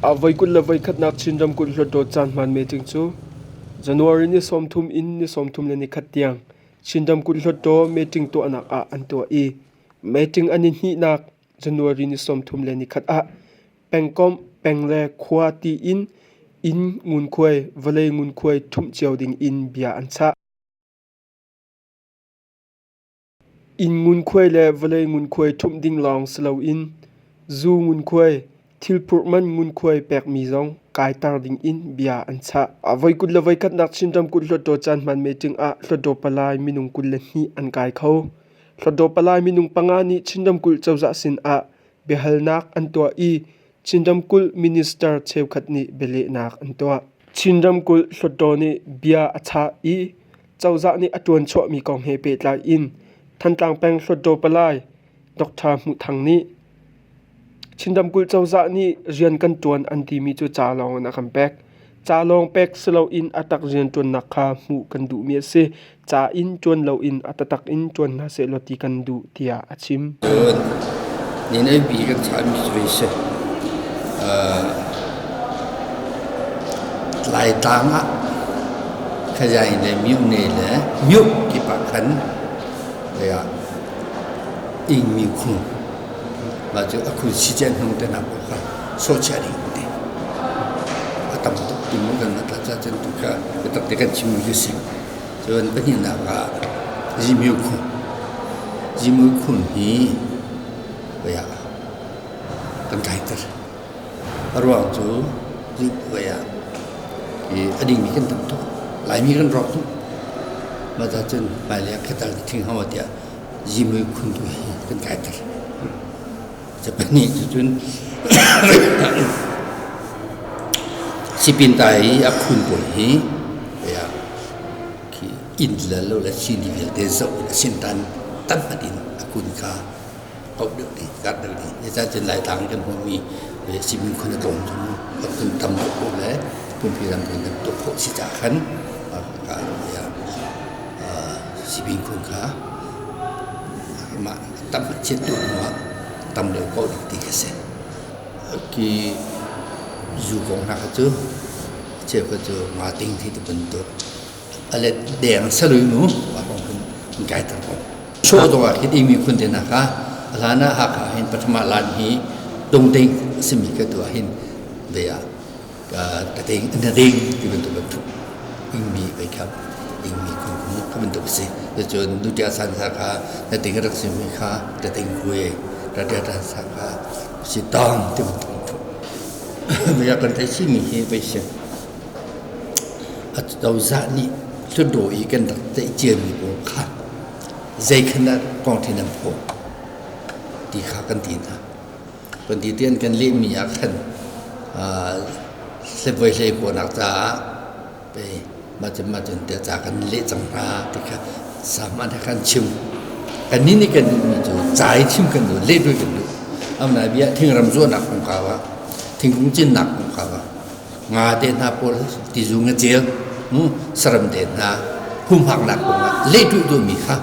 A voi kul le voikhatnak Chin ramkulh hluatdawt caan hmaan meting cu January ni sawmthum in ni sawmthum le nikhat tiang Chin ramkulh hluatdaw meeting tuahnak ah an tuah i meeting an i hnihnak January ni sawmthum le nikhat ah pengkomh peng le khua tiin inn ngunkhuai vawlei ngunkhuai ṭhumh cio ding in bia an chah. Inn ngunkhuai le vawlei ngunkhuai ṭhumh ding lawng si loin zu ngunkhuai Thilphurh man ngunkhuai pekmi zong kaiter dingin bia an chah. Voi kut le voi khatnak Chinram kut Hluttaw caan hmaan meeting ah Hluttaw Palai minung kul le hnih an kai kho. Hluttaw Palai minung panga nih Chinram kulh cozah sinah biahalnak an tuah i Chinram kulh minister cheukhat nih bialehnak an tuah. Chinram kulh Hluttaw nih bia a chah i cozah nih a ṭuan chuahmi kong he pehtlai in Thantlang peng Hluttaw Palai Dr. Hmuh Thang nih Chinramkulh cozah nih rian kan ṭuan an timi cu ca lawng in a kan pek. Ca lawng pek si loin a tak rianṭuannak kha hmuh kan duhmi a si. Ca in ṭuan loin a tatak in ṭuan hna sehlaw ti kan duh tiah a chim. Cun ni naipi kan chahmi cu hi si. Laitlang ah khazai le myone le myuk kip ah khan ih mi khung Mah cu a khun si ciah hnung te nak awk kha sochiah ding an ti. A tam tuk tum in kan rat ca cun tu kha biatak te kan chimmi cu si. Cun pahnihnak ah Zimyu khun. Zimyu khun hi voi ah kan tlaiter. A ruang cu voi ah i a dingmi kan tam tuk. Laimi kan rawk tuk. Mah ca cun hmailei ah khatal ka thing hau tiah zimui khun tu hi kan kai ter. Ca pahnih cu cun sipin ta i a khun pawl hi khi inn lal lo le sini vialte zoh in a sin tan tampat in a kun kha hauh deuh dih, karh deuh dih. Zeicah cun Laitlang i kan hmuhmi simin khun a tlawm cu kum tam deuh paoh le pumpi ram kan tam deuh paoh si caah khan ka sipin khun kha mah tam a chiat tuah hnu ah tam lio ko ding ti a si. Ki zu kong hna kha cu cheukhat cu nga ting thi te bantuk a let deng salui nu a kong hun gai ter ko. Chawh dong ah hit imi khun te na ka hlan ah haka hin pathama lan hi tung ding simi ka tu ah hin ve ah ka ding na ding ti bantuk bantuk ingmi kai kha ingmi khunkhung ka bantuk a si cucun nutia san sa kha na ding rak si mi kha ta ding kue ta tia ta sa kha si tang ti bantuk bantuk maya kan thei si mi hi vai si a cozah nih hludo i kan rak tei cian mi pawl khan zei khan kong thin an phaw ti kha kan ti hna Pahnih an kan lehmi ah khan hlevuai hlei kawhnak caah mah cun mah cun tiah ca kan leh cang hna ti kha sahman he khan chim. Kannih nih kan duhmi cu ca i thim kan duh, leh duh kan duh. Amna bia thingram zuahnak kongkau ah, thingkung cinnak kongkau ah nga te hna pawl tizung a ceu saram te hna humhaknak kongah leituh duhmi kha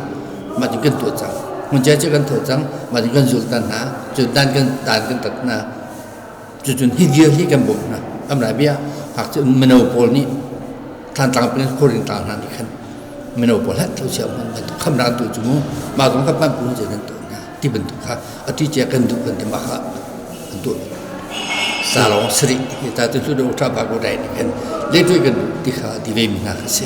mah cu kan tuah cang hmuncia cu kan tho cang mah cu kan zul ta hna cu dan kan dan kan tat hna cucun hi dir hi kan bawmh hna amra bia hak cu mino pawl nih thlantlang pin horing tlang hna nih khan mino pawl hat tho sia man khamra tu chu mu ma kong kha pan pu je nan to ti bantuk kha ati cia kan duh kan ti ma kha an tuah sa lawng sari hi ta tu lu do tha ba ko dai kan le tu kan duh ti kha ti ve mi na kha si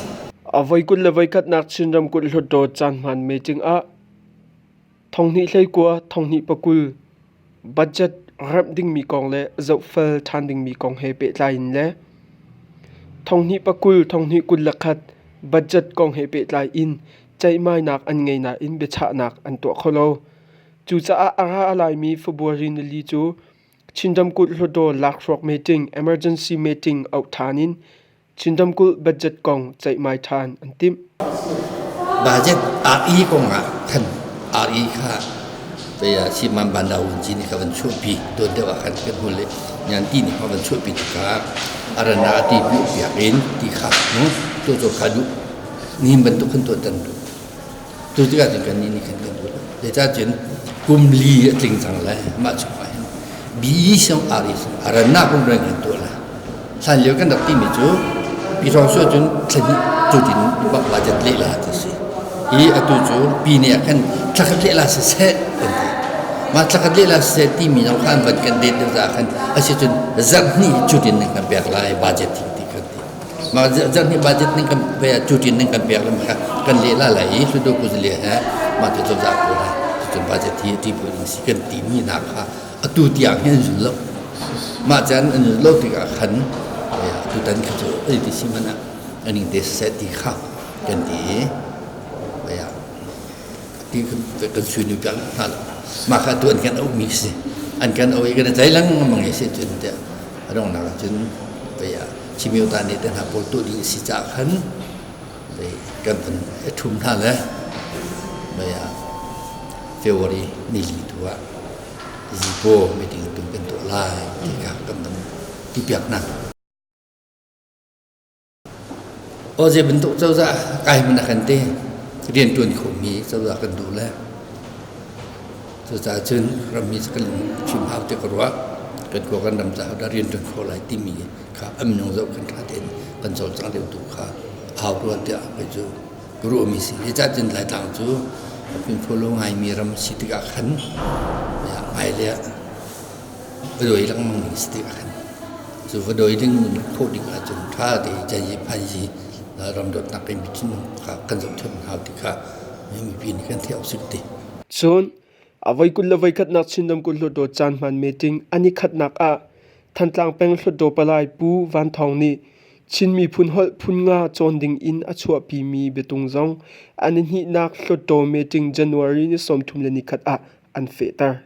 a voi kun le voi khat nak chin ram kun hlut do chan man me ting a thonghni hlei kwa thonghni pakul budget rap ding mi kong le zo fal than ding mi kong he pe tlai in le thonghni pakul thonghni kun lakhat budget kong he pe tlai in ceihmainak an ngei nain biachahnak an tuah kho lo. Cucaah a ra a laimi February nili cu Chin ramkulh hluttaw lakhruak meeting emergency meeting auh ṭhan in Chin ramkulh budget kong ceihmai ṭhan an timh. Budget RE kong ah khan RE kha pei ah Siman Banda Wunci nih ka van chuahpi tuan deuh ah khan kan hmun le nganti nih ka van chuahpi tikha a rana ti piah piak in ti kha tu cu ka duh nihin bantuk khan tuahtan duh. Cu tikah cun kannih nih khan kan duh lo. Zeicah cun kum li a tling cang lai, mah cu fai hin bi song ari arannak rungreng hin tuah lai. Hlan lio kan rak timi cu pyithawng cu cun thlahnih cutin budget lehla ti si. I atu cu pi nih khan thlakhat lehla siseh kan ti. Mah thlakhat lehla siseh timi zong khan van kan det deuh caah khan a si cun zarh hnih cutin kan pek lai budget ti kan ti. Zarhnih budget ning kan cutin ning kan pek lam kha kan lehla lai i hludu kuzale he mah te cozah pawl he cutin budget hi ti puai ding si kan ti mi na kha atu tiang hin an zul lo mah chan an zul lo tik ah khan atu tan kha cu ai ti si mana an in de set ti kha kan ti aya ti kan sui ni kan na mah kha tu an kan au mi si an kan au i kan tai lang mang si chin te rong na chin aya Cimyota nih te hna pawl tuah ding a si caah khan kan van ṭhum hna le mei ah February nili tu ah zipo meeting tu kan tuah lai ti kha kan van ti piak hna. O je bentuk cozah kai mana kan te rian tuan khawmi cozah kan duh le Cucaah cun rammi cu kan lungfim hau tiah ka ruah. Kan khua kan ram caah dah rian kan kho lai timi kha am nyong zoh kan ṭha tein kan cawlcang lio tu kha a hau rua tiah kei cu ka ruahmi si. Zeicah cun Laitlang cu fimfual lo ngaimi ram si tikah khan hmai le va dawi lengmang ding si tikah khan cu va dawi ding khawh ding ahcun ṭha tein cazii phaizii ram dawtnak in thinlung kha kan zohṭhenh hau ti kha Cun a voi kul le voikhatnak Chin ramkulh hluttaw caan hmaan meeting an i khatnak ah Thantlang peng hluttaw palai Pu Van Thawng nih Chin miphun holh phun nga cawn ding in a chuahpimi biatung zong an i hnihnak hluttaw meeting January ni sawmthum le ni khat ah an fehter.